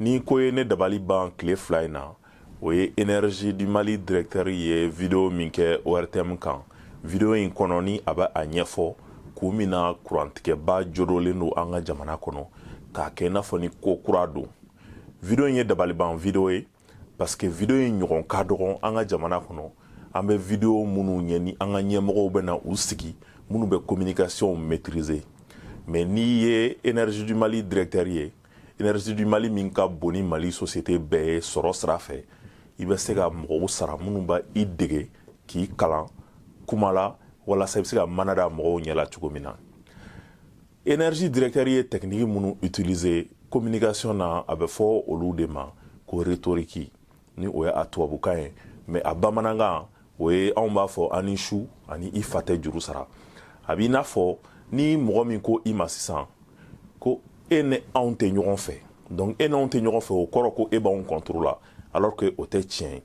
ni ko ye ne dabali ban tile fila in na o ye energie du mali directeur ye video min kɛ ortm kan video in kɔnɔ ni a bɛ a ɲɛfɔ kun min na kurantigɛba jodolen don an ka jamana kɔnɔ k'a kɛ i n'a fɔ ni ko kura don video in ye dabaliban video ye parce que video in ɲɔgɔn ka dɔgɔn an ka jamana kɔnɔ an bɛ video minnu ɲɛ ni an ka ɲɛmɔgɔw bɛ na u sigi minnu bɛ communication maîtriser mais n'i ye énergie du mali directeur ye énergie du mali min ka bon ni mali société bɛɛ ye sɔrɔ sira fɛ i bɛ se ka mɔgɔw sara minnu b'i dege k'i kalan kuma la walasa i bɛ se ka mana da mɔgɔw ɲɛ la cogo min na energie directeur ye technique minnu utiliser communication na a bɛ fɔ olu de ma ko rhétorique ni o ye a tubabukan ye mais a bamanankan o ye anw b'a fɔ an ni su ani i fa tɛ juru sara a b'i n'a fɔ ni mɔgɔ min ko i ma sisan ko e ni anw tɛ ɲɔgɔn fɛ donc e n'anw tɛ ɲɔgɔn fɛ o kɔrɔ ko e b'anw contre la alors que o tɛ tiɲɛ ye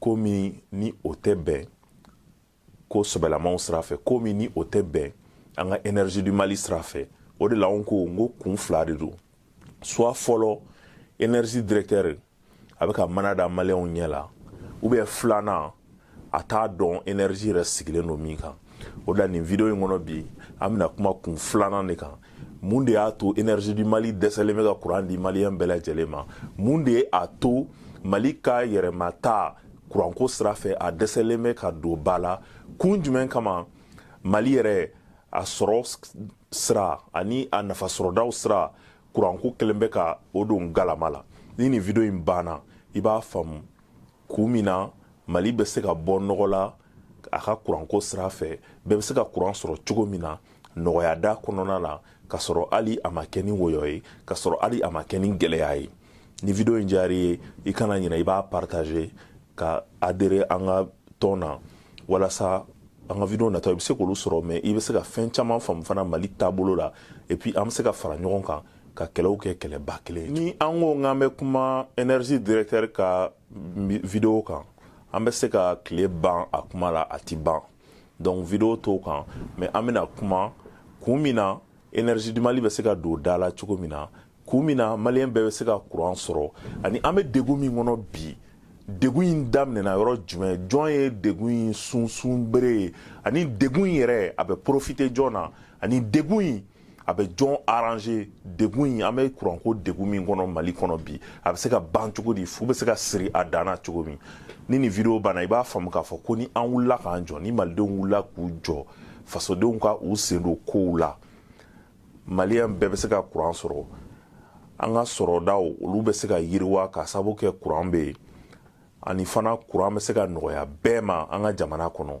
ko min ni o tɛ bɛn ko sɛbɛlamaw sira fɛ ko min ni o tɛ bɛn an ka energie du mali sira fɛ o de la n ko n ko kun fila de don soit fɔlɔ energie directeur a bɛ ka mana da maliyɛnw ɲɛ la ou bien filanan a t'a dɔn energie yɛrɛ sigilen don min kan o de la nin video in kɔnɔ bi an bɛna kuma kun filanan de kan mun de y'a to énergie du mali dɛsɛlen bɛ ka kuran di maliyɛn bɛɛ lajɛlen ma mun de ye a to mali ka yɛrɛma ta kuranko sira fɛ a dɛsɛlen bɛ ka don ba la kun jumɛn kama mali yɛrɛ a sɔrɔ sira ani a nafasɔrɔdaw sira kuranko kɛlen bɛ ka o don galama la ni nin video in banna i b'a faamu kun min na mali bɛ se ka bɔ nɔgɔ la a ka kuranko sira fɛ bɛɛ bɛ se ka kuran sɔrɔ cogo min na nɔgɔya da kɔnɔna la ka sɔrɔ hali a ma kɛ ni wɔyɔ ye ka sɔrɔ hali a ma kɛ ni gɛlɛya ye ni video in diyara i ye i kana ɲina i b'a partager ka adhérer an ka tɔn na walasa an ka video nataw i bɛ se k'olu sɔrɔ mais i bɛ se ka fɛn caman faamu fana mali taabolo la et puis an bɛ se ka fara ɲɔgɔn kan ka kɛlɛw kɛ kɛlɛba kelen ye ni an ko k'an bɛ kuma energie directeur ka video kan an bɛ se ka tile ban a kuma la a ti ban donc video t'o kan mais an bɛna kuma kun min na energie du mali bɛ se ka don da la cogo min na kun min na maliyɛn bɛɛ bɛ se ka kuran sɔrɔ ani an bɛ degun min kɔnɔ bi degun in daminɛna yɔrɔ jumɛn jɔn ye degun in sunsun bere ye ani degun in yɛrɛ a bɛ profiter jɔn na ani degun in a bɛ jɔn arranger degun in an bɛ kuranko degun min kɔnɔ mali kɔnɔ bi a bɛ se ka ban cogo di fu bɛ se ka siri a dan na cogo min ni nin vidéo banna i b'a faamu k'a fɔ ko ni an wulila k'an jɔ ni malidenw wulila k'u jɔ fasodenw ka u sen don kow la maliyɛn bɛɛ bɛ se ka kuran sɔrɔ an ka sɔrɔdaw olu bɛ se ka yiriwa ka sababu kɛ kuran bɛ yen ani fana kuran bɛ se ka nɔgɔya bɛɛ ma an ka jamana kɔnɔ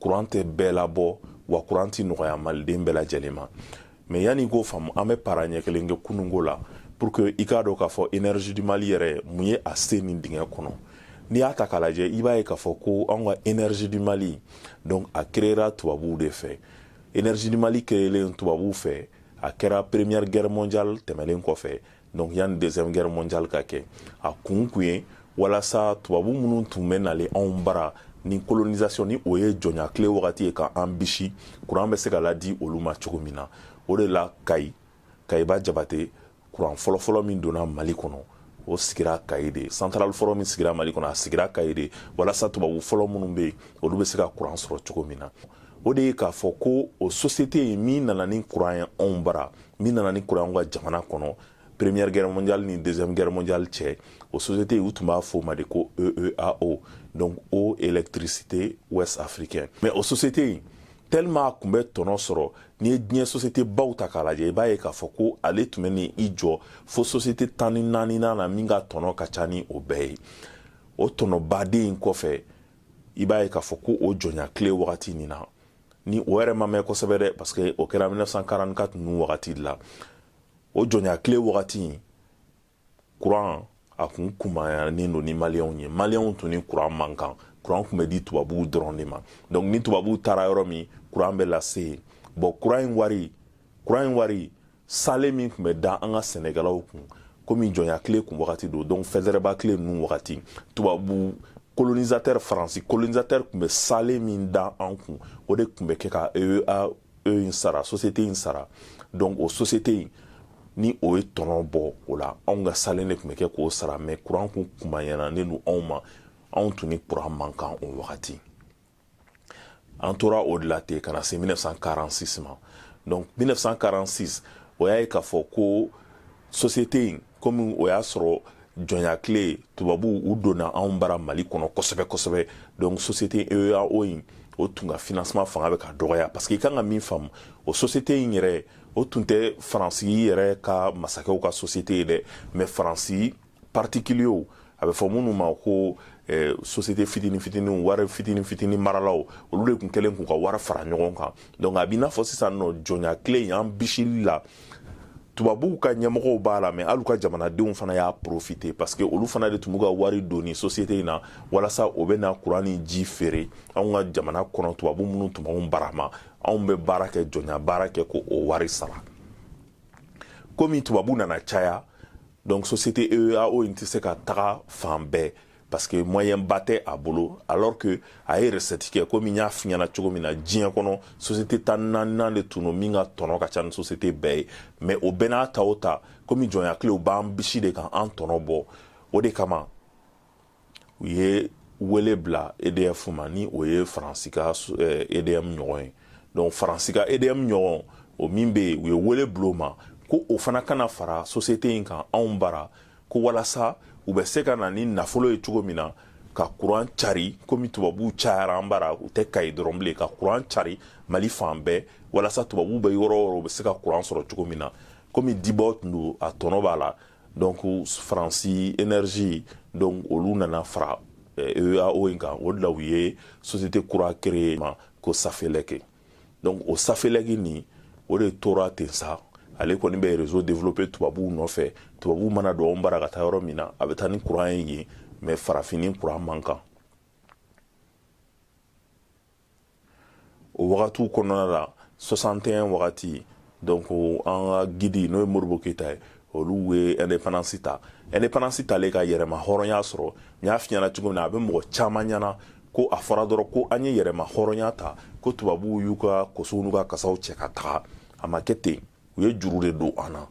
kuran tɛ bɛɛ labɔ wa kuran tɛ nɔgɔya maliden bɛɛ lajɛlen ma mais yanni i k'o faamu an bɛ para ɲɛ kelen kɛ kununko la pour que i k'a dɔn k'a fɔ énergie du mali yɛrɛ mun ye a se nin dingɛ kɔnɔ n'i y'a ta k'a lajɛ i b'a ye k'a fɔ ko anw ka énergie du mali donc a créera tubabuw de fɛ énergie du mali créelen tubabuw fɛ a kɛra première guerre mondiale tɛmɛlen kɔfɛ donc yanni deuxième guerre mondiale ka kɛ a kun kun ye walasa tubabu minnu tun bɛ nalen anw bara ni colonisation ni o ye jɔnya tile wagati ye ka an bisi kuran bɛ se ka ladi olu ma cogo min na o de la kayi kayiba jabate kuran fɔlɔfɔlɔ min donna mali kɔnɔ o sigira kayi de centrale fɔlɔ min sigira mali kɔnɔ a sigira kayi de walasa tubabu fɔlɔ minnu bɛ yen olu bɛ se ka kuran sɔrɔ cogo min na o de ye k'a fɔ ko o société in min nana ni kuran ye anw bara min nana ni kuran y'an ka jamana kɔnɔ première guerre mondiale ni deuxième guerre mondiale cɛ o société u tun b'a f'o ma de ko EEAO donc eau électricité ouest africaine mais o société in tellement a tun bɛ tɔnɔ sɔrɔ n'i ye diɲɛ société baw ta k'a lajɛ i b'a ye k'a fɔ ko ale tun bɛ n'i jɔ fo société tan ni naaninan na min ka tɔnɔ ka ca ni o bɛɛ ye o tɔnɔbaden in kɔfɛ i b'a ye k'a fɔ ko o jɔnya tile wagati nin na ni o yɛrɛ ma mɛn kosɛbɛ dɛ parce que o kɛra 1944 ninnu wagati de la o jɔnya tile wagati kuran a kun kunbayanen don ni maliyɛnw ye maliyɛnw tun ni kuran man kan kuran tun bɛ di tubabuw dɔrɔn de ma donc ni tubabuw taara yɔrɔ min kuran bɛ lase yen bon kuran in wari kuran in wari sale min tun bɛ da an ka sɛnɛkɛlaw kun komi jɔnya tile kun wagati don donc fɔrɔsɛbaara tile ninnu wagati tubabu colonisateur faransi colonisateur tun bɛ sale min da an kun o de tun bɛ kɛ ka EEAO in sara société in sara donc o société in ni o ye tɔnɔ bɔ o la anw ka salen de tun bɛ kɛ k'o sara mais kuran kun kunbayanen don anw ma anw tun ni kuran man kan o wagati an tora o de la ten ka na se 1946 ma donc 1946 o y'a ye k'a fɔ ko société in komi o y'a sɔrɔ jɔnya tile tubabuw u donna anw bara mali kɔnɔ kosɛbɛ kosɛbɛ donc société EEAO in o tun ka financement fanga bɛ ka dɔgɔya parce que i kan ka min faamu o société in yɛrɛ o tun tɛ faransi yɛrɛ ka masakɛw ka société ye dɛ mais faransi particuliers a bɛ fɔ minnu ma ko eh, société fitini fitiniw wari fitini fitini maralaw olu de tun kɛlen k'u ka wari fara ɲɔgɔn kan donc a b'i n'a fɔ sisan nɔ jɔnya tile y'an bisili la tubabuw ka ɲɛmɔgɔw b'a la mais hali ka jamanadenw fana y'a profité parce que olu fana de tun b'u ka wari don ni société in na walasa o bɛ na kuran ni ji feere anw ka jamana kɔnɔ tubabu minnu tun b'anw barama anw bɛ baara kɛ jɔnya baara kɛ ko o wari sara komi tubabu nana caya donc société EEAO in tɛ se ka taga fan bɛɛ parce que moyen ba tɛ a bolo alors que a ye recette kɛ komi n y'a f'i ɲɛna cogo min na diɲɛ kɔnɔ société tan naaninan de tun don min ka tɔnɔ ka ca ni société bɛɛ ye mais o bɛɛ n'a ta o ta komi jɔnya tilew b'an bisi de kan an tɔnɔ bɔ o de kama u ye wele bila EDF ma ni o ye faransi ka EDM eh, ɲɔgɔn ye donc faransi ka EDM ɲɔgɔn o min bɛ yen u ye wele bila o ma ko o fana ka na fara société in kan anw bara ko walasa u bɛ se ka na ni nafolo ye cogo min na ka kuran cari komi tubabuw cayara an bara u tɛ kayi dɔrɔn bilen ka kuran cari mali fan bɛɛ walasa tubabuw bɛ yɔrɔ o yɔrɔ u bɛ se ka kuran sɔrɔ cogo min na komi dibɔ tun don a tɔnɔ b'a la donc faransi énergie donc olu nana fara EEAO in kan o de la u ye société kura créé ma ko Safelec donc o Safelec nin o de tora ten sa ale kɔni bɛ réseau développé tubabuw nɔfɛ tubabuw mana don anw bara ka taa yɔrɔ min na a bɛ taa ni kuran ye yen mais farafini kuran man kan o wagatiw kɔnɔna la 61 wagati donc an ka guide n'o ye Modibo Keyita ye olu ye indépendance ta indépendance talen ka yɛrɛma hɔrɔnya sɔrɔ n y'a f'i ɲɛna cogo min na a bɛ mɔgɔ caman ɲɛna ko a fɔra dɔrɔn ko an ye yɛrɛma hɔrɔnya ta ko tubabuw y'u ka kosow n'u ka kasaw cɛ ka taga a ma kɛ ten u ye juru de don an na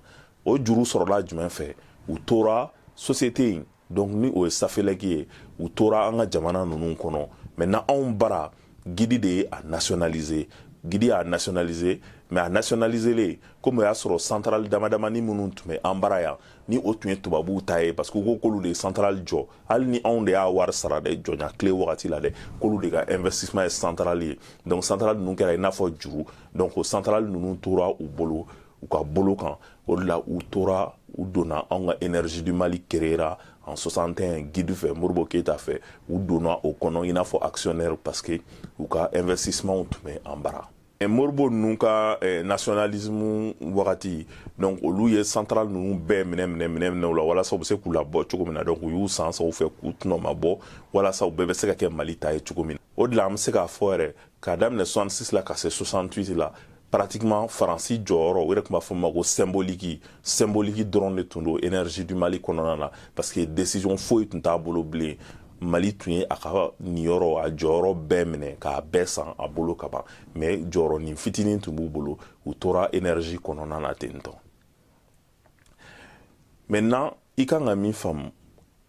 o juru sɔrɔla jumɛn fɛ u tora société in donc ni o ye Safelec ye u tora an ka jamana ninnu kɔnɔ maintenant anw bara guide de ye a nationalisé guide y'a nationalisé mais a nationaliselen komi o y'a sɔrɔ centrale damadamani minnu tun bɛ an bara yan ni o tun ye tubabuw ta ye parce que u ko k'olu de ye centrale jɔ hali ni anw de y'a wari sara dɛ jɔnya tile wagati la dɛ k'olu de ka investissement ye centrale ye donc centrale ninnu kɛra i n'a fɔ juru donc o centrale ninnu tora u bolo u ka bolo kan o de la u tora u donna anw ka énergie du Mali créera en 61 guide fɛ Modibo Keyita fɛ u donna o kɔnɔ i n'a fɔ actionnaire parce que u ka investissement tun bɛ an bara eh, Modibo ninnu ka eh, nationalisme wagati donc olu ye centrale ninnu bɛɛ minɛ minɛ minɛ minɛ u la walasa u bɛ se k'u labɔ cogo min na donc u y'u san sa u fɛ k'u tɔnɔ ma bɔ walasa u bɛɛ bɛ se ka kɛ mali ta ye cogo min na o de la an bɛ se k'a fɔ yɛrɛ k'a daminɛ 66 la ka se 68 la pratiquement faransi jɔyɔrɔ o yɛrɛ tun b'a fɔ ma ko symboliki symboliki dɔrɔn de tun don énergie du mali kɔnɔna na parce que décision foyi tun t'a bolo bilen mali tun ye a ka niyɔrɔ a jɔyɔrɔ bɛɛ minɛ k'a bɛɛ san a bolo ka ban mais jɔyɔrɔnin fitinin tun b'u bolo u tora énergie kɔnɔna na ten tɔ maintenant i kan ka min faamu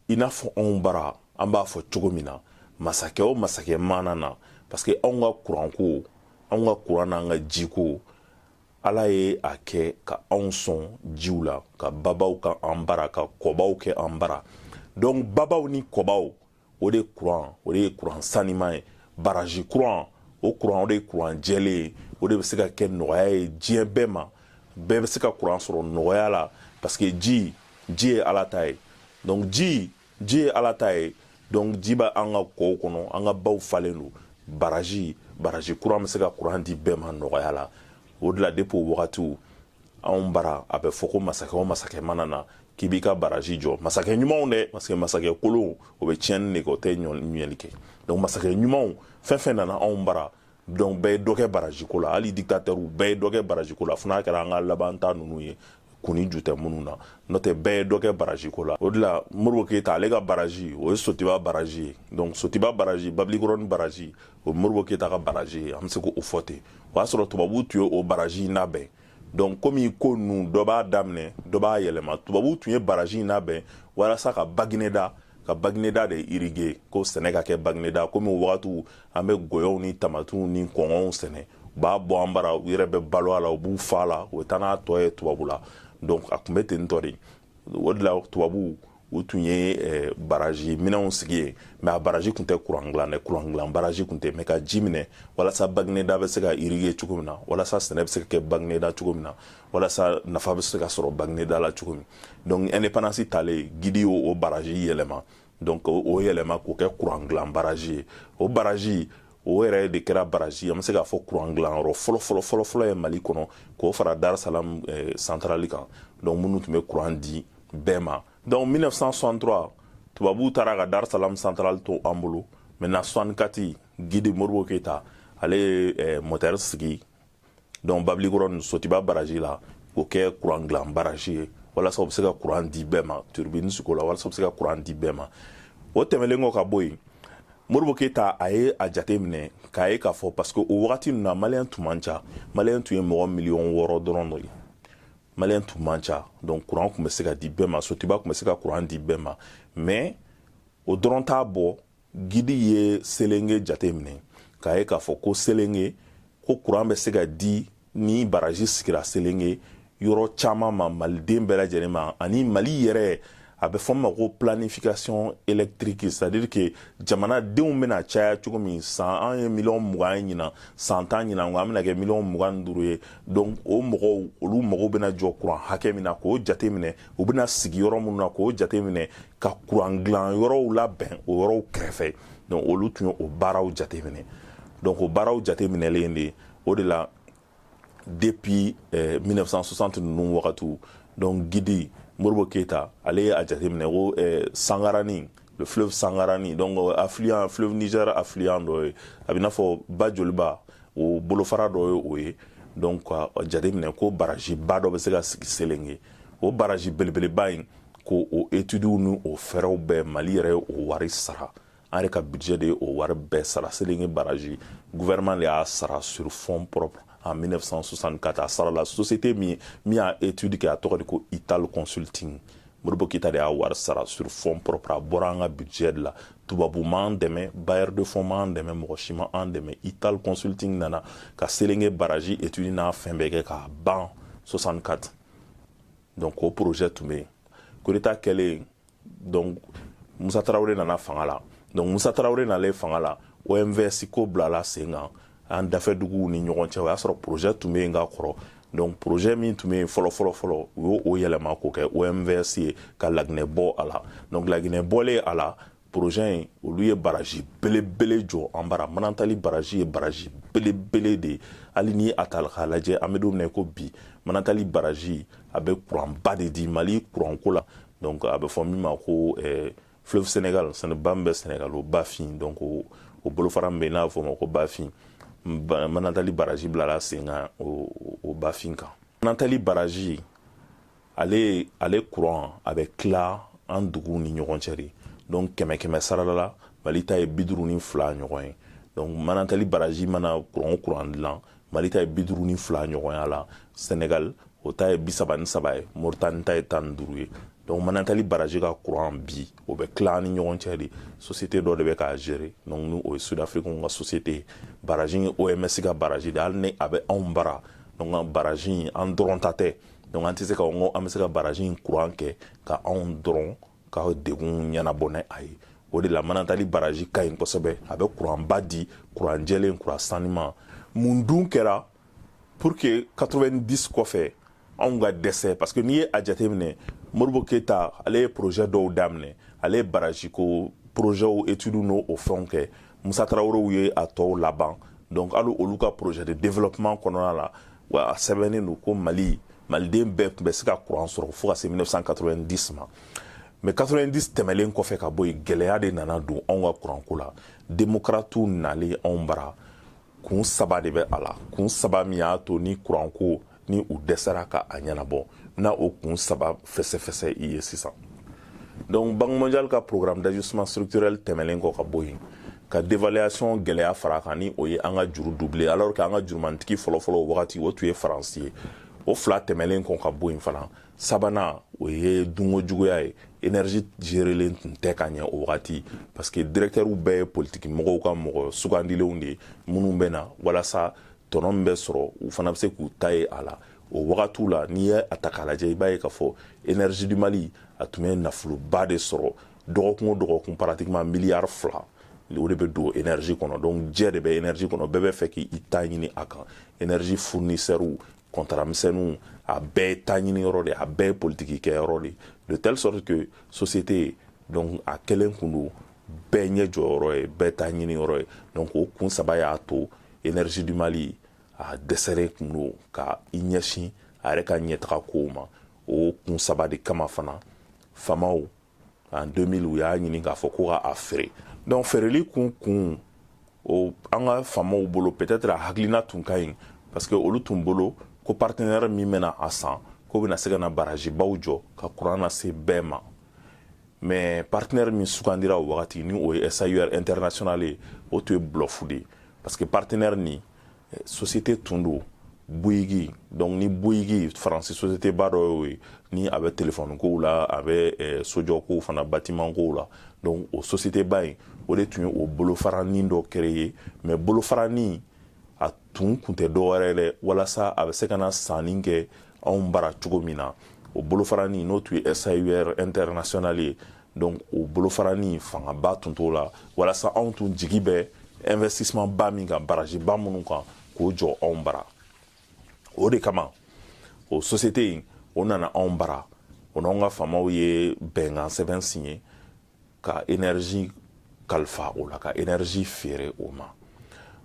i n'a fɔ anw bara an b'a fɔ cogo min na masakɛ o masakɛ mana na parce que anw ka kuranko anw ka kuran n'an ka jiko ala ye a kɛ ka anw sɔn jiw la ka babaw kɛ an bara ka kɔbaw kɛ an bara donc babaw ni kɔbaw o de kuran o de ye kuran sanima ye baraji kuran o kuran o de ye kuran jɛlen ye o de bɛ se ka kɛ nɔgɔya ye diɲɛ bɛɛ ma bɛɛ bɛ se ka kuran sɔrɔ nɔgɔya la parce que ji ji ye ala ta ye donc ji ji ye ala ta ye donc ji bɛ an ka kɔw kɔnɔ an ka baw falen don baraji baraji kuran bɛ se ka kuran di bɛɛ ma nɔgɔya la o de la depuis o wagatiw anw bara a bɛ fɔ ko masakɛ o masakɛ mana na k'i b'i ka baraji jɔ masakɛ ɲumanw dɛ parce que masakɛ kolonw o bɛ tiɲɛni de kɛ o tɛ ɲɛli kɛ donc masakɛ ɲumanw fɛn fɛn nana anw bara donc bɛɛ ye dɔ kɛ baraji ko la hali dikitatɛriw bɛɛ ye dɔ kɛ baraji ko la fo n'a kɛra an ka laban ta ninnu ye kun ni ju tɛ minnu na n'o tɛ bɛɛ ye dɔ kɛ baraji ko la o de la modibo keyita ale ka baraji o ye sotiba baraji ye donc sotiba baraji babilikɔrɔni baraji o ye modibo keyita ka baraji ye an bɛ se k'o fɔ ten o y'a sɔrɔ tubabuw tun ye o baraji in labɛn donc komi ko ninnu dɔ b'a daminɛ dɔ b'a yɛlɛma tubabuw tun ye baraji in labɛn walasa ka bagineda ka bagineda de irriguer ko sɛnɛ ka kɛ bagineda komi o wagatiw an bɛ gɔyɔw ni tamatiw ni kɔnkɔnw sɛnɛ u b'a bɔ an bara u yɛrɛ bɛ balo a la u b'u fa a la u bɛ taa n'a tɔ ye tubabu la donc a tun bɛ ten tɔ de o de la tubabuw u tun ye eh, baraji minɛnw sigi yen mais a baraji tun tɛ kuran dilan dɛ kuran dilan baraji tun tɛ mais ka ji minɛ walasa bagineda bɛ se ka irriguer cogo min na walasa sɛnɛ bɛ se ka kɛ bagineda cogo min na walasa nafa bɛ se ka sɔrɔ bagineda la cogo min donc indépendance talen guide y'o o baraji yɛlɛma donc o yɛlɛma k'o kɛ kuran dilan baraji ye o baraji o yɛrɛ de kɛra baraji an bɛ se k'a fɔ kuran dilanyɔrɔ fɔlɔ fɔlɔ fɔlɔ fɔlɔ ye mali kɔnɔ k'o fara dar salam eh, santarali kan donc minnu tun bɛ kuran di bɛɛ ma donc 1963 tubabuw taara ka dar salam santarali to an bolo maintenant 64 guide modibo keyita ale ye eh, motɛri sigi donc babilikɔrɔni sotiba baraji la k'o kɛ kuran dilan baraji ye walasa o bɛ se ka kuran di bɛɛ ma turbine sigi o la walasa o bɛ se ka kuran di bɛɛ ma o tɛmɛlen kɔ ka bɔ yen modibo keyita a ye a jate minɛ k'a ye k'a fɔ parce que o wagati ninnu na maliyɛn tun man ca maliyɛn tun ye mɔgɔ miliyɔn wɔɔrɔ dɔrɔn de ye maliyɛn tun man ca donc kuran tun bɛ se ka di bɛɛ ma sotiba tun bɛ se ka kuran di bɛɛ ma mais o dɔrɔn t'a bɔ gidi ye selenge jate minɛ k'a ye k'a fɔ ko selenge ko kuran bɛ se ka di ni baraji sigira selenge yɔrɔ caman ma maliden bɛɛ lajɛlen ma ani mali yɛrɛ a bɛ fɔ ma ko planification électrique c'est à dire que jamanadenw bɛna caya cogo min san an ye miliyɔn mugan ye ɲinan san tan ɲinan kɔ an bɛna kɛ miliyɔn mugan ni duuru ye donc o mɔgɔw olu mago bɛna jɔ kuran hakɛ min na k'o jate minɛ u bɛna sigi yɔrɔ minnu na k'o jateminɛ ka kuran dilan yɔrɔw labɛn o yɔrɔw kɛrɛfɛ donc olu tun ye o baaraw jateminɛ donc o baaraw jateminɛlen de o de la depuis eh, 1960 ninnu wagatiw donc gidi modibo keyita ale ye a jateminɛ ko eh, sangarani le fleuve sangarani donc euh, affluent fleuve niger affluent dɔ ye a bɛ i n'a fɔ ba joliba o bolofara dɔ ye o ye donc k'a jateminɛ ko barajiba dɔ bɛ se ka sigi selenge o baraji belebeleba in ko o etudiw ni o fɛɛrɛw bɛɛ mali yɛrɛ ye o wari sara an yɛrɛ ka budget de ye o wari bɛɛ sara selenge baraji gouvernement de y'a sara sur fonds propres en 1964 a sarala société min min y'a étude kɛ a tɔgɔ de ko ital consulting modibo keyita de y'a wari sara sur fonds propres a bɔra an ka budget de la tubabu m'an dɛmɛ bailleur de fonds m'an dɛmɛ mɔgɔ si ma an dɛmɛ ital consulting nana ka selenge baraji étude n'a fɛn bɛɛ kɛ k'a ban 64 donc o projet tun bɛ yen coup d'état kɛlen donc musa tarawele nana fanga la donc musa tarawele nalen fanga la omvs ko bilala sen kan an dafɛ duguw ni ɲɔgɔn cɛ o y'a sɔrɔ projet tun bɛ yen ka kɔrɔ donc projet min tun bɛ yen fɔlɔ fɔlɔ fɔlɔ u y'o o yɛlɛma k'o kɛ omvs ye ka laginɛ bɔ a la donc laginɛ bɔlen a la projet in olu ye baraji belebele jɔ an bara manantali baraji ye baraji belebele de ye hali ni a ta k'a lajɛ an bɛ don min ko bi manantali baraji a bɛ kuranba de di mali kuranko la donc a bɛ fɔ min ma ko eh, fleuve sénégal sɛnɛ ba min bɛ sénégal o bafin donc o, o bolofara min bɛ yen n'a bɛ fɔ o ma ko bafin manantali baraji bilala sen kan o, o bafin kan manantali baraji ale ale kuran a bɛ tila an duguw ni ɲɔgɔn cɛ de donc kɛmɛ kɛmɛ sarada la mali ta ye biduru ni fila ɲɔgɔn ye donc manantali baraji mana kuran o kuran dilan mali ta ye biduru ni fila ɲɔgɔnya la senegal o ta ye bisaba ni saba ye moritani ta ye tan ni duuru ye donc manantali baraji ka kuran bi o bɛ tila ni ɲɔgɔn cɛ de société dɔ de bɛ k'a gérer donc ni o ye sud africain ka société ye baraji ye omvs ka baraji de hali ni a bɛ anw bara donc baraji an dɔrɔn ta tɛ donc an tɛ se ka n ko an bɛ se ka baraji in kuran kɛ ka anw dɔrɔn ka degun ɲɛnabɔ ni a ye o de la manantali baraji ka ɲi kosɛbɛ a bɛ kuranba di kuran jɛlen kuran saniman mun dun kɛra pour que 90 kɔfɛ anw ka dɛsɛ parce que n'i ye a jateminɛ modibo keyita ale ye projet dɔw daminɛ ale ye baraji ko projɛw etudiw n'o o fɛnw kɛ musa tarawelew ye a tɔw laban donc hali olu ka projet de développement kɔnɔna la wa a sɛbɛnnen don ko mali maliden bɛɛ tun bɛ se ka kuran sɔrɔ fo ka se 1990 ma mais 90 tɛmɛlen kɔfɛ ka bɔ yen gɛlɛya de nana don anw ka kuranko la demokaratiw nalen anw bara kun saba de bɛ a la kun saba min y'a to ni kuranko ni u dɛsɛra ka a ɲɛnabɔ na o kun saba fɛsɛfɛsɛ i ye sisan donc banque mondiale ka programme d'ajustement structurel tɛmɛlen kɔ ka bɔ yen ka dévaluation gɛlɛya fara kan ni o ye an ka juru doubler alors que an ka jurumantigi fɔlɔfɔlɔ o wagati o tun ye faransi ye o fila tɛmɛlen kɔ ka bɔ yen fana sabanan o ye dunko juguya ye énergie gerelen tun tɛ ka ɲɛ o wagati parce que directeurs bɛɛ ye politiki mɔgɔw ka mɔgɔ sugandilenw de ye minnu bɛ na walasa tɔnɔ min bɛ sɔrɔ u fana bɛ se k'u ta ye a la o wagatiw la n'i ye a ta k'a lajɛ i b'a ye k'a fɔ énergie du mali a tun bɛ nafoloba de sɔrɔ dɔgɔkun o dɔgɔkun pratiquement miliyari fila o de bɛ don énergie kɔnɔ donc jɛ de bɛ énergie kɔnɔ bɛɛ b'a fɛ k'i ta ɲini a kan énergie fournisseurs kɔntara misɛnninw a bɛɛ ye ta ɲini yɔrɔ de a bɛɛ ye politiki kɛ yɔrɔ de de telle sorte que société donc a kɛlen tun don bɛɛ ɲɛ jɔ yɔrɔ ye bɛɛ ta ɲini yɔrɔ ye donc o kun saba y'a to énergie du mali a dɛsɛlen tun don ka i ɲɛsin a yɛrɛ ka ɲɛtaga kow ma o kun saba de kama fana faamaw en 2000 u y'a ɲini k'a fɔ ko ka a feere donc feereli kun kun o an ka faamaw bolo peut-être a hakilina tun ka ɲi parce que olu tun bolo ko partenaire min bɛna a san k'o bɛna se ka na barajibaw jɔ ka kuran lase bɛɛ ma mais partenaire min sugandira o wagati ni o ye SAUR international ye o tun ye bluff de ye parce que partenaire nin société tun don Bouygues donc ni Bouygues faransi société ba dɔ y'o ye ni a bɛ telefɔni kow la a bɛ eh, sojɔ kow fana batiman kow la donc o société ba in o de tun ye o bolofaranin dɔ créer mais bolofaranin a tun kun tɛ dɔwɛrɛ dɛ walasa a bɛ se ka na sanni kɛ anw bara cogo min na o bolofaranin n'o tun ye SAUR international ye donc o bolofaranin fangaba tun t'o la walasa anw tun jigi bɛ investissement ba min kan baraji ba minnu kan k'o jɔ anw bara o de kama o société in o nana anw bara o n'anw ka faamaw ye bɛnkan sɛbɛn siɲe ka énergie kalifa o la ka énergie feere o ma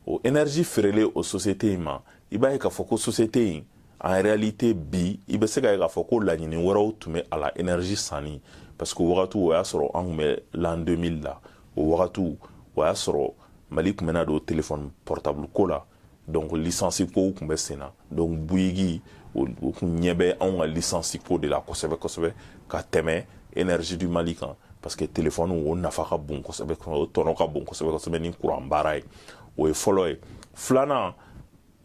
o énergie feerelen o société in ma i b'a ye k'a fɔ ko société in en réalité bi i bɛ se ka ye k'a fɔ ko laɲini wɛrɛw tun bɛ a la énergie sanni parce que o wagatiw o y'a sɔrɔ an tun bɛ l'an 2000 la o wagatiw o y'a sɔrɔ mali tun bɛna don téléphone portable ko la donc licence kow tun bɛ sen na donc Bouygues o tun ɲɛ bɛ anw ka licence ko de la kosɛbɛ kosɛbɛ ka tɛmɛ énergie du mali kan parce que téléphone o nafa ka bon kosɛbɛ o tɔnɔ ka bon kosɛbɛ kosɛbɛ ni kuran baara ye o ye fɔlɔ ye filanan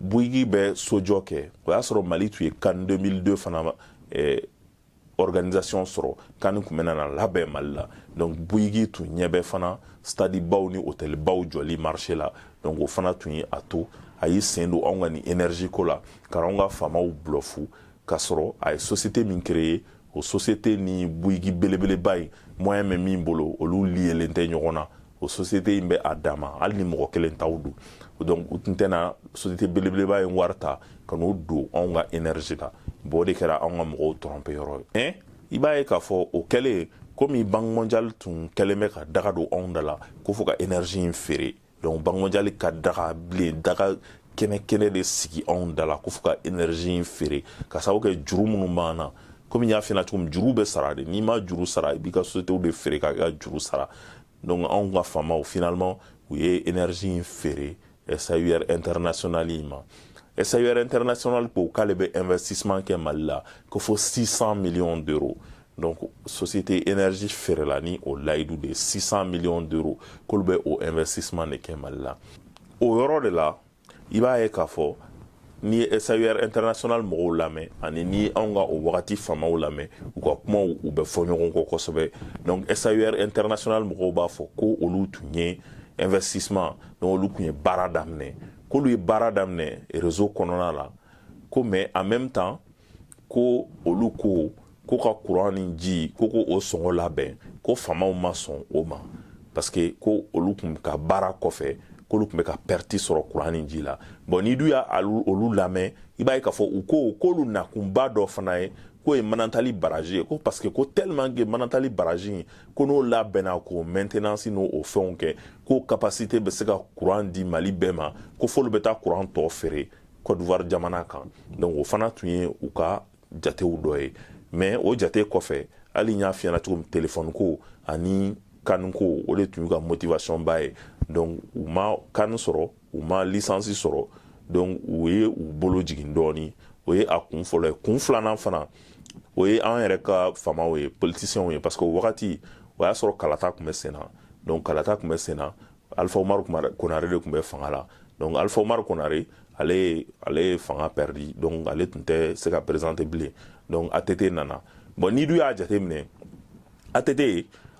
Bouygues bɛ sojɔ kɛ o y'a sɔrɔ mali tun ye CAN 2002 fana eh, organisation sɔrɔ CAN tun bɛna na labɛn mali la donc Bouygues tun ɲɛ bɛ fana stade baw ni hôtel baw jɔli marché la donc o fana tun ye a to a y'i sen don anw ka nin énergie ko la ka anw ka faamaw bulɔfu ka sɔrɔ a ye société min créer o société ni Bouygues belebeleba in moyen bɛ min bolo olu liélen tɛ ɲɔgɔn na o société in bɛ a dama hali ni mɔgɔ kelen taw don donc u tun tɛna société belebeleba in wari ta ka n'o don anw ka énergie la bon o de kɛra anw ka mɔgɔw tromper yɔrɔ ye mais i b'a ye k'a fɔ o kɛlen komi banque mondiale tun kɛlen bɛ ka daga don anw da la ko fo ka énergie in feere donc banque mondiale ka daga bilen daga kɛnɛ kɛnɛ de sigi anw da la ko fo ka énergie in feere ka sababu kɛ juru minnu b'an na komi n y'a f'i ɲɛna cogo min juru bɛ sara de n'i ma juru sara i b'i ka sociétéw de feere k'a ka juru sara donc anw ka faamaw finalement u ye énergie in feere SAUR international in ma SAUR international ko k'ale bɛ investissement kɛ Mali la ko fo 600 millions d'euros donc société énergie feerela ni o layidu de ye 600 millions d'euros k'olu bɛ o investissement de kɛ mali la o yɔrɔ de la i b'a ye k'a fɔ n'i ye SAUR international mɔgɔw lamɛn ani ni anw ka o wagati faamaw lamɛn u ka kumaw u bɛ fɔ ɲɔgɔn kɔ kosɛbɛ donc SAUR international mɔgɔw b'a fɔ ko olu tun ye investissement donc olu tun ye baara daminɛ k'olu ye baara daminɛ réseau kɔnɔna la ko mais en même temps ko olu ko ko ka kuran ni ji ko ko o sɔngɔ labɛn ko faamaw ma sɔn o ma parce que ko olu tun ka baara kɔfɛ k'olu tun bɛ ka perte sɔrɔ kuran ni ji la bon n'i dun ye olu lamɛn i b'a ye k'a fɔ u ko k'olu nakunba dɔ fana ye k'o ye manantali baraji ye ko parce que ko tellement que manantali baraji in ko n'o labɛnna k'o maintenance n'o o fɛnw kɛ k'o capacité bɛ se ka kuran di mali bɛɛ ma ko f'olu bɛ taa kuran tɔ feere Côte d'Ivoire jamana kan donc o fana tun ye u ka jatew dɔ ye mais o jate kɔfɛ hali n y'a f'i ɲɛna cogo min téléphone ko ani CAN ko o de tun y'u ka motivation ba ye donc u ma CAN sɔrɔ u ma licence sɔrɔ donc u ye u bolo jigin dɔɔni o ye a kun fɔlɔ ye kun filanan fana o ye an yɛrɛ ka faamaw ye politiciens ye parce que o wagati o y'a sɔrɔ kalata tun bɛ sen na donc kalata tun bɛ sen na alifa umaru konare de tun bɛ fanga la donc alifa umaru konare ale ye ale ye fanga pɛridi donc ale tun tɛ se ka présenter bilen donc att nana bon n'i dun y'a jateminɛ att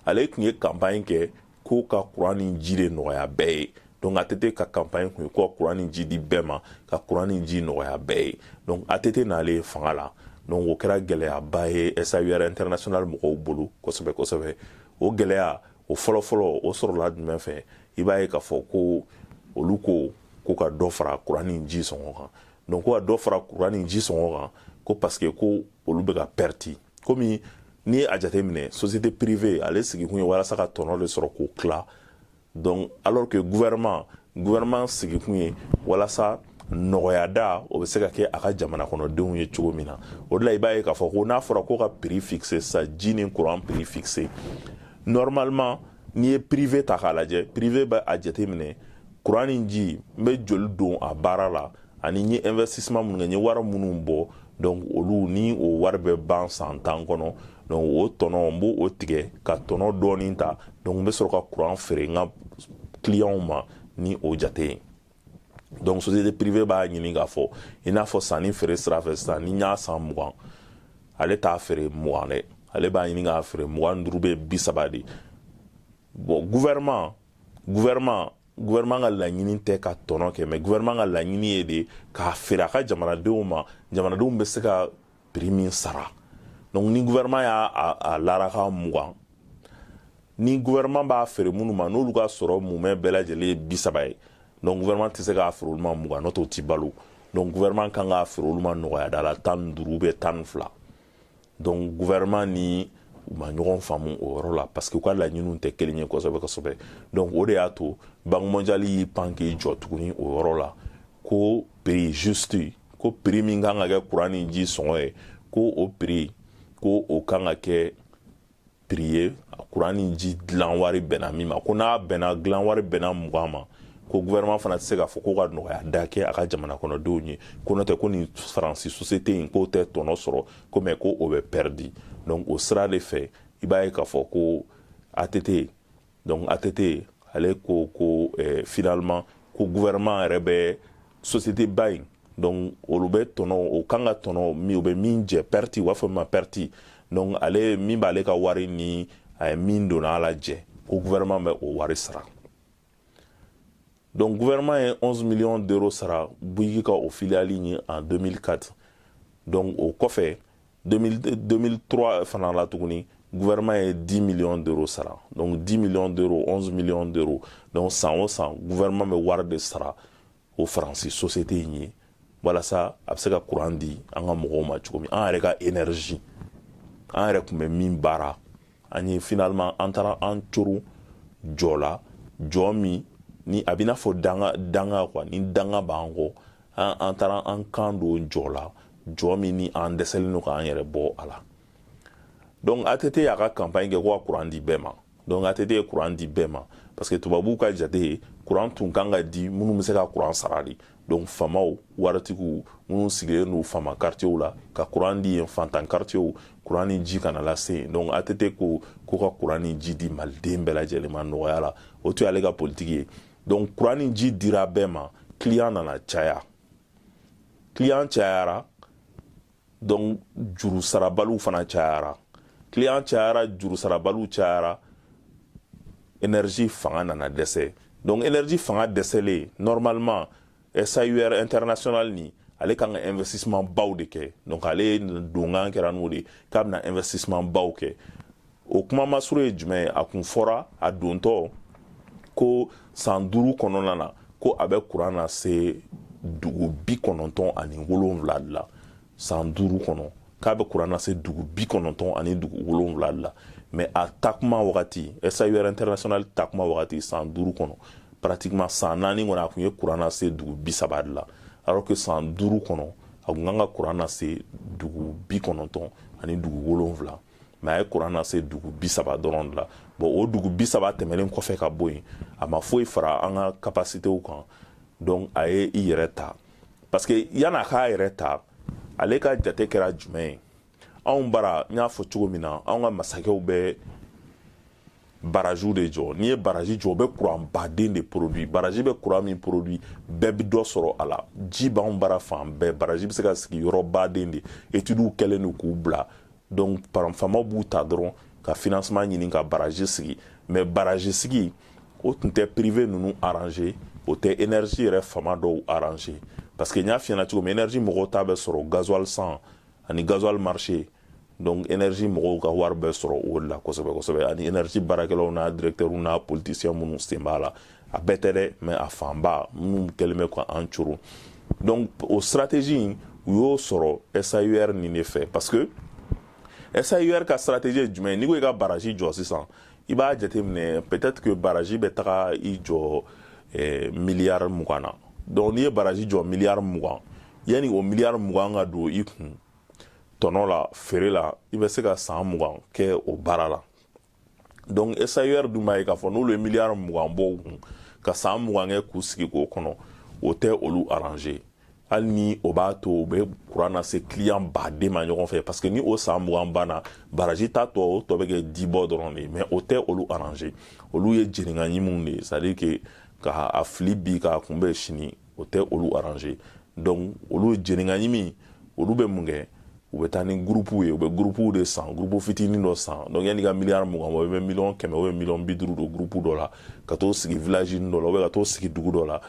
ale tun ye kanpaɲi kɛ ko ka kuran ni ji de nɔgɔya bɛɛ ye donc att ka kanpaɲi tun ye ko ka kuran ni ji di bɛɛ ma ka kuran ni ji nɔgɔya bɛɛ ye donc att nalen fanga la donc o kɛra gɛlɛyaba ye saur international mɔgɔw bolo kosɛbɛ kosɛbɛ o gɛlɛya o fɔlɔfɔlɔ o sɔrɔla jumɛn fɛ i b'a ye k'a fɔ ko olu ko ko ka dɔ fara kuran ni ji sɔngɔ kan donc ko ka dɔ fara kuran ni ji sɔngɔ kan ko parce que ko olu bɛ ka pɛriti komi n'i ye a jateminɛ société privée ale sigikun ye walasa ka tɔnɔ de sɔrɔ k'o tila donc alors que gouvernement gouvernement sigikun ye walasa nɔgɔya da o bɛ se ka kɛ a ka jamana kɔnɔdenw ye cogo min na o de la i b'a ye k'a fɔ ko n'a fɔra ko ka prix fixer sa ji ni courant prix fixer normalement n'i ye privé ta k'a lajɛ privé bɛ a jateminɛ courant ni ji n bɛ joli don a baara la ani n ye investissement minnu kɛ n ye wari minnu bɔ donc olu ni o wari bɛ ban san tan kɔnɔ donc o tɔnɔ n b'o tigɛ ka tɔnɔ dɔɔni ta donc n bɛ sɔrɔ ka courant feere n ka clientw ma ni o jate ye donc société privée b'a ɲini k'a fɔ i n'a fɔ sanni feere sira fɛ sisan ni n y'a san mugan ale t'a feere mugan dɛ ale b'a ɲini k'a feere mugan ni duuru ou bien bi saba de bon gouvernement gouvernement gouvernement ka laɲini tɛ ka tɔnɔ kɛ mais gouvernement ka laɲini ye de k'a feere a ka jamanadenw ma jamanadenw bɛ se ka prix min sara donc ni gouvernement y'a a lara a kan mugan ni gouvernement b'a feere minnu ma n'olu ka sɔrɔ mumɛ bɛɛ lajɛlen ye bi saba ye donc gouvernement tɛ se k'a feere olu ma mugan n'o tɛ o tɛ balo donc gouvernement kan k'a feere olu ma nɔgɔya da la tan ni duuru ou bien tan ni fila donc gouvernement ni u ma ɲɔgɔn faamu o yɔrɔ la parce que u ka laɲiniw tɛ kelen ye kosɛbɛ kosɛbɛ donc o de y'a to banque mondiale y'i pan k'i jɔ tuguni o yɔrɔ la ko prix juste ko prix min kan ka kɛ kuran ni ji sɔngɔ ye ko o prix ko o kan ka kɛ prix ye kuran ni ji dilan wari bɛnna min ma ko n'a bɛnna dilan wari bɛnna mugan ma ko gouvernement fana tɛ se k'a fɔ ko ka nɔgɔya da kɛ a ka jamana kɔnɔdenw ye ko n'o tɛ ko nin faransi société in k'o tɛ tɔnɔ sɔrɔ ko mais ko o bɛ pɛridi donc o sira de fɛ i b'a ye k'a fɔ ko ATT donc ATT ale ko ko eh, finalement ko gouvernement yɛrɛ bɛ société ba in donc olu bɛ tɔnɔ o kan ka tɔnɔ min o bɛ min jɛ pɛriti u b'a fɔ min ma pɛriti donc ale min b'ale ka wari ni a ye min donna a la jɛ ko gouvernement bɛ o wari sara donc gouvernement ye 11 millions d'euros sara bouygues ka o filiale ye en 2004 donc o kɔfɛ 2003 fana la tuguni gouvernement ye 10 millions d'euros sara donc 10 millions d'euros 11 millions d'euros donc san o san gouvernement bɛ wari de sara o faransi société in ye walasa a bɛ se ka courant di an ka mɔgɔw ma cogo min an yɛrɛ ka énergie an yɛrɛ tun bɛ min baara an ye finalement an taara an coron jɔ la jɔ min ni a bɛ n'a fɔ danga quoi ni danga b'an kɔ an an taara an kan don jɔ la jɔ min ni an dɛsɛlen don k'an yɛrɛ bɔ a la donc ATT y'a ka campagne kɛ ko ka courant di bɛɛ ma donc ATT ye courant di bɛɛ ma parce que tubabuw ka jate ye courant tun kan ka di minnu bɛ se ka courant sara de donc faamaw waritigiw minnu sigilen don faama karitiyew la ka kuran di yen fantan karitiyew kuran ni ji kana lase yen donc ATT ko ka kuran ni ji di maliden bɛɛ lajɛlen ma nɔgɔya la o tun y'ale ka politiki ye donc kuran ni ji dira bɛɛ ma client nana caya client cayara donc juru sarabaliw fana cayara client cayara juru sarabaliw cayara énergie fanga nana dɛsɛ donc énergie fanga dɛsɛlen normalement SAUR international ni ale kan ka investissement baw de kɛ donc ale donkan kɛra n'o de k'a bɛna investissement baw kɛ o kuma masuru ye jumɛn a kun fɔra a dontɔ ko san duuru kɔnɔna na ko a bɛ kuran nase dugu bi kɔnɔntɔn ani wolonwula de la san duuru kɔnɔ k'a bɛ kuran nase dugu bi kɔnɔntɔn ani dugu wolonwula de la mais a takuma wagati SAUR international takuma wagati san duuru kɔnɔ pratiquement san naani kɔnɔ a kun ye kuran nase dugu bi saba de la alors que san duuru kɔnɔ a kun kan ka kuran nase dugu bi kɔnɔntɔn ani dugu wolonwula mais a ye kuran nase dugu bi saba dɔrɔn de la bon o dugu bi saba tɛmɛlen kɔfɛ ka bɔ yen a ma foyi fara an ka kapasitew kan donc a ye i yɛrɛ ta parce que yanni a k'a yɛrɛ ta ale ka jate kɛra jumɛn ye anw bara n y'a fɔ cogo min na anw ka masakɛw bɛ baraziw de jɔ n'i ye barazi jɔ o bɛ kuran baden de produit barazi bɛ kuran min produit bɛɛ bɛ dɔ sɔrɔ a la ji b'anw bara fan bɛɛ barazi bɛ se ka sigi yɔrɔ baden de etudiw kɛlen don k'u bila donc faamaw b'u ta dɔrɔn ka financement ɲini ka barazi sigi mais barazi sigi o tun tɛ privé ninnu arranger o tɛ énergie yɛrɛ faama dɔw arranger parce que n y'a f'i ɲɛna cogo min énergie mɔgɔw ta bɛ sɔrɔ gasoil san ani gasoil marché donc énergie mɔgɔw ka wari bɛ sɔrɔ o de la kosɛbɛ kosɛbɛ ani énergie baarakɛlaw n'a directeurw n'a politicien minnu sen b'a la a bɛɛ tɛ dɛ mais a fanba minnu kɛlen bɛ ka an coro donc o stratégie in u y'o sɔrɔ SAUR nin de fɛ parce que SAUR ka stratégie ye jumɛn ye n'i ko i ka baraji jɔ sisan i b'a jateminɛ peut-être que baraji bɛ taga i jɔ eh, miliyari mugan na donc n'i ye baraji jɔ miliyari mugan yanni o miliyari mugan ka don i kun tɔnɔ la feere la i bɛ se ka san mugan kɛ o baara la donc SAUR dun b'a ye k'a fɔ n'olu ye miliyari mugan bɔ u kun ka san mugan kɛ k'u sigi k'o kɔnɔ o tɛ olu arranger hali ni o b'a to u bɛ kuran nase kiliyan baden ma ɲɔgɔn fɛ parce que ni o san mugan banna baraji ta tɔ o tɔ bɛ kɛ dibɔ dɔrɔn de ye mais o tɛ olu arranger olu ye jeninka ɲiminw de ye c'est à dire que ka a fili bi k'a kunbɛn sini o tɛ olu arranger donc olu jeninka ɲimi olu bɛ mun kɛ u bɛ taa ni gurupuw ye u bɛ gurupuw de san gurupu fitinin dɔ san donc yanni ka miliyari mugan bɔ i bɛ miliyɔn kɛmɛ ubiyɛn miliyɔn bi duuru don gurupu dɔ la ka t'o sigi vilaji dɔ la ubiyɛn ka t'o sigi dugu dɔ la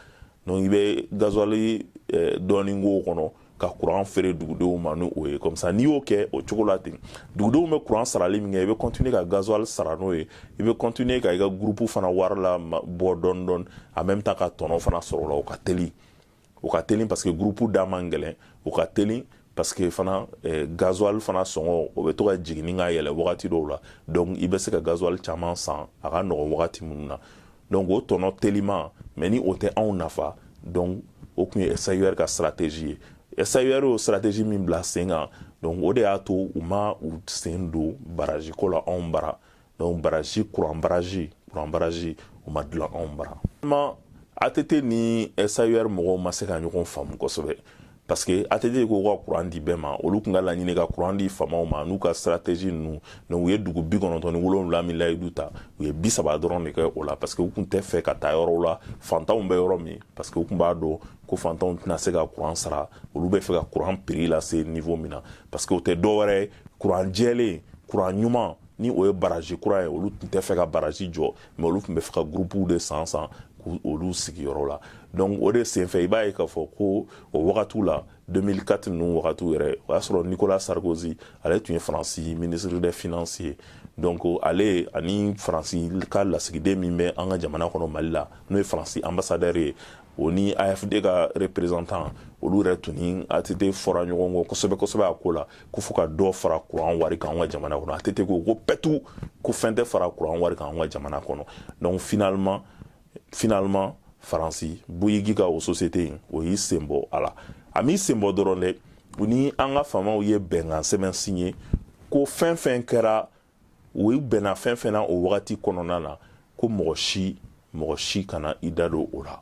donc i bɛ gazuwali eh, dɔɔni k'o kɔnɔ ka kuran feere dugudenw ma ni o ye comme ça n'i y'o kɛ o cogo la ten dugudenw bɛ kuran sarali min kɛ i bɛ continuer ka gazuwali sara n'o ye i bɛ continuer ka i ka groupe fana wari labɔ dɔɔni dɔɔni en même temps ka tɔnɔ fana sɔrɔ o la o ka teli o ka teli parce que groupe da man gɛlɛn o ka teli parce que fana eh, gasoil fana sɔngɔ o bɛ to ka jiginni ka yɛlɛ wagati dɔw la donc i bɛ se ka gasoil caman san a ka nɔgɔn wagati minnu na donc o tɔnɔ teliman mais ni o tɛ anw nafa donc o tun ye SAUR ka stratégie ye SAUR y'o stratégie min bila sen kan donc o de y'a to u ma u sen don baraji ko la anw bara donc baraji kuran baraji kuran baraji o ma dilan anw bara mais ATT ni SAUR mɔgɔw ma se ka ɲɔgɔn faamu kosɛbɛ parce que ATT ko ka kuran di bɛɛ ma olu tun ka laɲini ka kuran di faamaw ma n'u ka stratégie ninnu donc u ye dugu bi kɔnɔntɔn ni wolonwula min layidu ta u ye bi saba dɔrɔn de kɛ o la parce que u tun tɛ fɛ ka taa yɔrɔw la fantanw bɛ yɔrɔ min parce que u tun b'a dɔn ko fantanw tɛna se ka kuran sara olu bɛ fɛ ka kuran prix lase niveau min na parce que o tɛ dɔ wɛrɛ ye kuran jɛlen kuran ɲuman ni o ye baraji kuran ye olu tun tɛ fɛ ka baraji jɔ mais olu tun bɛ fɛ ka gurupuw de san san olu sigiyɔrɔ la donc o de senfɛ i b'a ye k'a fɔ ko o wagatiw la 2004 ninnu wagatiw yɛrɛ o y'a sɔrɔ nicolas sarkozy ale tun ye faransi ministre des finances ye donc ale ani faransi ka lasigiden min bɛ an ka jamana kɔnɔ mali la n'o ye faransi ambassadɛr ye o ni AFD ka représentant olu yɛrɛ tun ni ATT fɔra ɲɔgɔn kɔ kosɛbɛ kosɛbɛ a ko la ko fo ka dɔ fara kuran wari kan an ka jamana kɔnɔ ATT ko ko pewu ko fɛn tɛ fara kuran wari kan an ka jamana kɔnɔ donc finalement finalement Faransi Bouygues ka o société in o y'i sen bɔ a la a m'i sen bɔ dɔrɔn dɛ u ni an ka faamaw ye bɛnkan sɛbɛn signé ko fɛn fɛn kɛra u bɛnna fɛn fɛn na o wagati kɔnɔna na ko mɔgɔ si mɔgɔ si kana i da don o la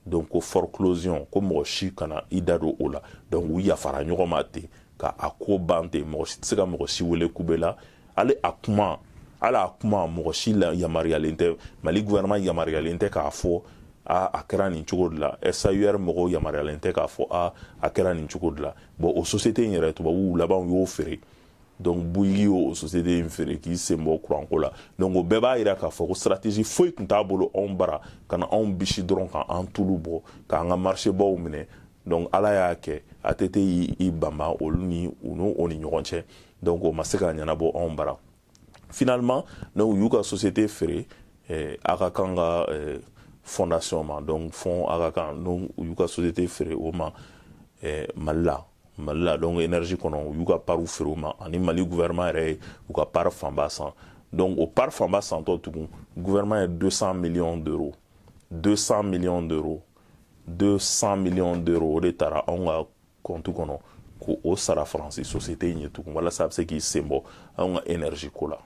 donc ko forclosion ko mɔgɔ si kana i da don o la donc u yafara ɲɔgɔn ma ten ka a ko ban ten mɔgɔ si tɛ se ka mɔgɔ si wele kube la hali a kuma hali a kuma mɔgɔ si la yamaruyalen tɛ mali gouvernement yamaruyalen tɛ k'a fɔ a a kɛra nin cogo de la SAUR mɔgɔw yamaruyalen tɛ k'a fɔ a a kɛra nin cogo de la bon o société in yɛrɛ tubabuw laban y'o feere donc Bouygues y'o société in feere k'i senbɔ kuranko la donc o bɛɛ b'a yira k'a fɔ ko stratégie foyi tun t'a bolo anw bara ka na anw bisi dɔrɔn ka an tulu bɔ k'an ka marchébaw minɛ donc ala y'a kɛ ATT y'i banba olu ni u n'o o ni ɲɔgɔn cɛ donc o ma se ka ɲɛnabɔ anw bara finalement donc u y'u ka société feere eh, Aga Khan ka eh, fondation ma donc fond Aga Khan donc u y'u ka société feere o ma eh, mali la mali la donc énergie kɔnɔ u y'u ka pariw feere u ma ani mali gouvernement yɛrɛ ye u ka pari fanba san donc o pari fanba santɔ tugun gouvernement ye 200 millions d'euros 200 millions d'euros 200 millions d'euros o de tara anw ka kɔntu kɔnɔ k'o sara faransi société in ye tugun walasa a bɛ se k'i senbɔ anw ka énergie ko la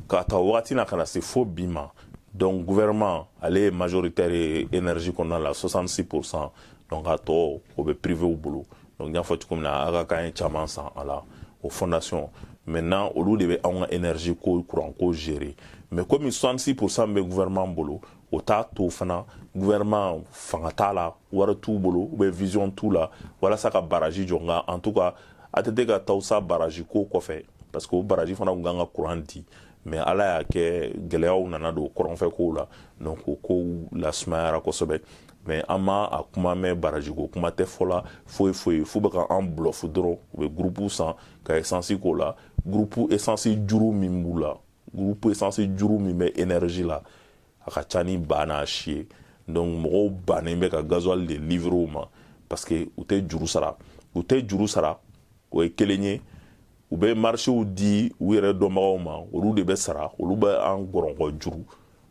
k'a ta wagati na ka na se fo bi ma donc gouvernement ale ye majoritaire ye énergie kɔnɔna la 66 pourcent donc a tɔ o bɛ privew bolo donc n y'a fɔ cogo min na Aga Khan ye caman san a la o fondation maintenant olu de bɛ anw ka énergie ko courant ko gérer mais komi 66 pourcent bɛ gouvernement bolo o t'a to fana gouvernement fanga t'a la wari t'u bolo ou bien vision t'u la walasa ka baraji jɔ nka en tout cas ATT ka Tawusa baraji ko kɔfɛ parce que o baraji fana tun kan ka kuran di mais Ala y'a kɛ gɛlɛyaw nana don kɔrɔnfɛ kow la donc o kow lasumayara kosɛbɛ mais an ma a kuma mɛn baraji ko kuma tɛ fɔ la foyi foyi f'u bɛ ka an bulɔfu dɔrɔn u bɛ gurupu san ka esansi k'o la gurupu esansi juru min b'u la gurupu esansi juru min bɛ énergie la a ka ca ni ba n'a si ye donc mɔgɔw bannen bɛ ka gazuwali de livrer u ma parce que u tɛ juru sara u tɛ juru sara o ye kelen ye u bɛ marchéw di u yɛrɛ dɔnbagaw ma olu de bɛ sara olu bɛ an gɔrɔnkɔ juru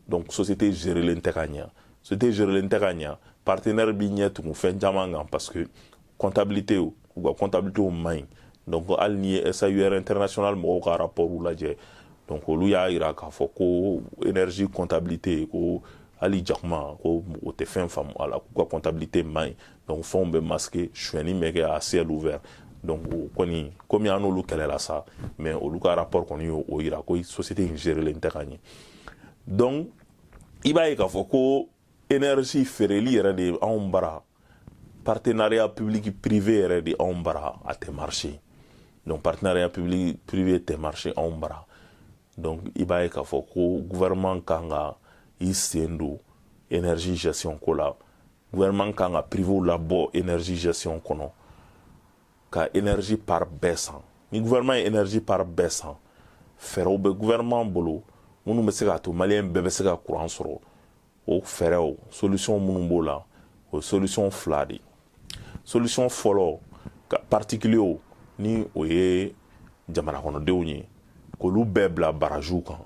donc société gerelen tɛ ka ɲɛ société gerelen tɛ ka ɲɛ partenaire b'i ɲɛ tugu fɛn caman kan parce que comptabilité u ka comptabilité man ɲi donc hali n'i ye SAUR international mɔgɔw ka rapport lajɛ donc olu y'a yira k'a fɔ ko énergie comptabilité ko hali jakuma ko o tɛ fɛn faamu a la k'u ka comptabilité man ɲi donc fɛnw bɛ masquer suɲɛni bɛ kɛ à ciel ouvert donc o kɔni komi an n'olu kɛlɛla sa mais olu ka rapport kɔni y'o yira ko société in gerelen tɛ ka ɲɛ donc i b'a ye k'a fɔ ko energie feereli yɛrɛ de anw bara partenariat public privé yɛrɛ de anw bara a tɛ marché donc partenariat public privé tɛ marché anw bara donc i b'a ye k'a fɔ ko gouvernement kan ka i sen don energie gestion ko la gouvernement kan ka privew labɔ energie gestion kɔnɔ ka energie part bɛɛ san ni gouvernement ye energie part bɛɛ san fɛɛrɛw bɛ gouvernement bolo minnu bɛ se k'a to maliyɛn bɛɛ bɛ se ka kuran sɔrɔ o fɛɛrɛw solution minnu b'o la o ye solution fila de ye solution fɔlɔ ka particulier ni o ye jamanakɔnɔdenw ye k'olu bɛɛ bila barajiw kan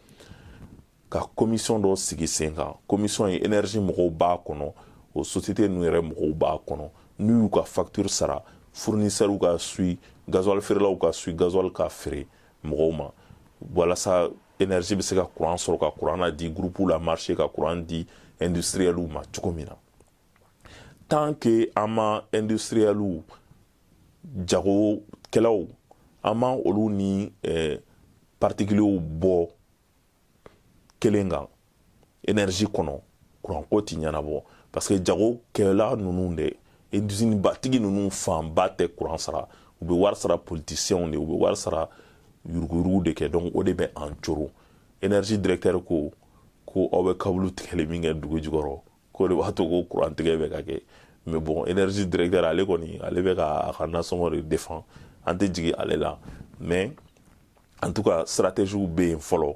ka komisɔn dɔ sigi sen kan komisɔn ye enerji mɔgɔw b'a kɔnɔ o sosiyete ninnu yɛrɛ mɔgɔw b'a kɔnɔ n'u y'u ka faktiri sara furnisɛriw ka sui gazuwali feerelaw ka sui gazuwali ka feere mɔgɔw ma walasa enerji bɛ se ka kuran sɔrɔ ka kuran na di gurupuw la marché ka kuran di industriɛliw ma cogo min na tant que an ma industriɛliw jagokɛlaw an ma olu ni eh, particuliers bɔ kelen kan energie kɔnɔ kuranko ti ɲɛnabɔ parce que jagokɛla ninnu de usine batigi ninnu fanba tɛ kuran sara u bɛ wari sara politiciens de u bɛ wari sara yuruguyurugu de kɛ donc o de bɛ an coro energie directeur ko ko aw bɛ kabulu tigɛli min kɛ dugu jukɔrɔ k'o de b'a to ko kuran tigɛ bɛ ka kɛ mais bon energie directeur ale kɔni ale bɛ ka a ka nasɔngɔ de défend an tɛ jigin ale la mais en tout cas stratégie bɛ yen fɔlɔ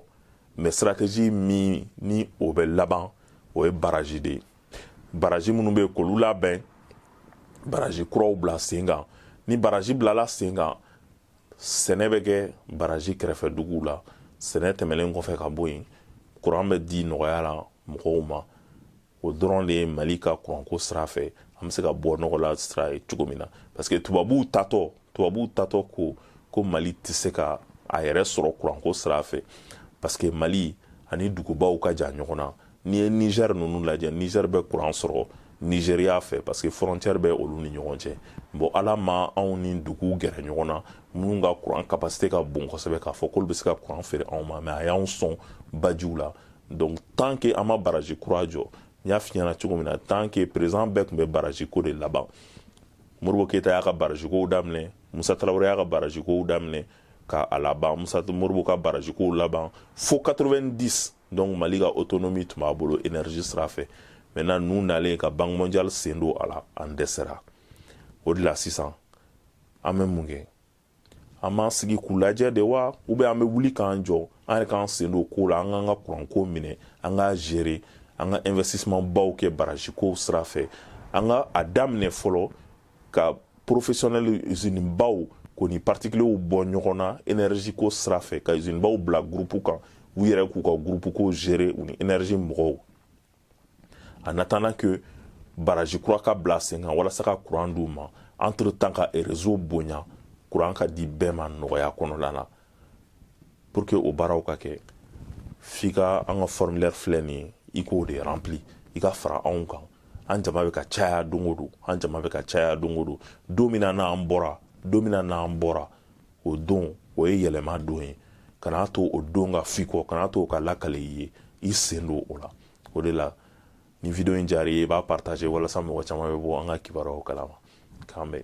mais stratégie min ni o bɛ laban o ye baraji de ye baraji minnu bɛ yen k'olu labɛn baraji kuraw bila sen kan ni baraji bilala sen kan sɛnɛ bɛ kɛ baraji kɛrɛfɛ duguw la sɛnɛ tɛmɛlen kɔfɛ ka bɔ yen kuran bɛ di nɔgɔya la mɔgɔw ma o dɔrɔn de ye mali ka kuranko sira fɛ an bɛ se ka bɔ nɔgɔ la sira ye cogo min na parce que tubabuw taatɔ tubabuw taatɔ ko ko mali tɛ se ka a yɛrɛ sɔrɔ kuranko sira fɛ parce que mali ani dugubaw ka jan ɲɔgɔn na n'i ye nizɛri ninnu lajɛ nizɛri bɛ kuran sɔrɔ nizeriya fɛ parce que frontière bɛ olu ni ɲɔgɔn cɛ bon ala ma anw ni duguw gɛrɛ ɲɔgɔn na minnu ka kuran kapasite ka bon kosɛbɛ k'a fɔ k'olu bɛ se ka kuran feere anw ma mais a y'anw sɔn bajiw la donc tant que an ma baraji kura jɔ n y'a f'i ɲɛna cogo min na tant que président bɛɛ tun bɛ baraji ko de laban modibo keyita y'a ka baraji kow daminɛ musa tarawele y'a ka baraji kow daminɛ ka a laban musa modibo ka baraji kow laban fo 90 donc mali ka autonomie tun b'a bolo énergie sira fɛ maintenant n'u nalen ka banque mondiale sen don a la an dɛsɛra o de la sisan an bɛ mun kɛ an b'an sigi k'u lajɛ de wa ou bien an bɛ wuli k'an jɔ an yɛrɛ k'an sen don kow la an k'an ka kuranko minɛ an k'a gérer an ka investissement baw kɛ baraji kow sira fɛ an ka a daminɛ fɔlɔ ka professionnel usine baw k'o ni particuliers bɔ ɲɔgɔn na énergie ko sira fɛ ka usine baw bila groupe kan u yɛrɛ k'u ka groupe ko gérer u ni énergie mɔgɔw en attendant que baraji kura ka bila sen kan walasa ka kuran d'u ma entre temps ka réseau bonya kuran ka di bɛɛ ma nɔgɔya kɔnɔna na pour que o baaraw ka kɛ f'i ka an ka formulaire filɛ nin ye i k'o de rempli i ka fara anw kan an jama bɛ ka caya don o don an jama bɛ ka caya don o don don min na n'an bɔra don min na n'an bɔra o don o ye yɛlɛma don ye kana to o don ka f'i kɔ kana to o ka lakale i ye i sen don o la o de la ni vidéo in diyara i ye i b'a partager walasa mɔgɔ caman bɛ bɔ an ka kibaruyaw kalama k'an bɛn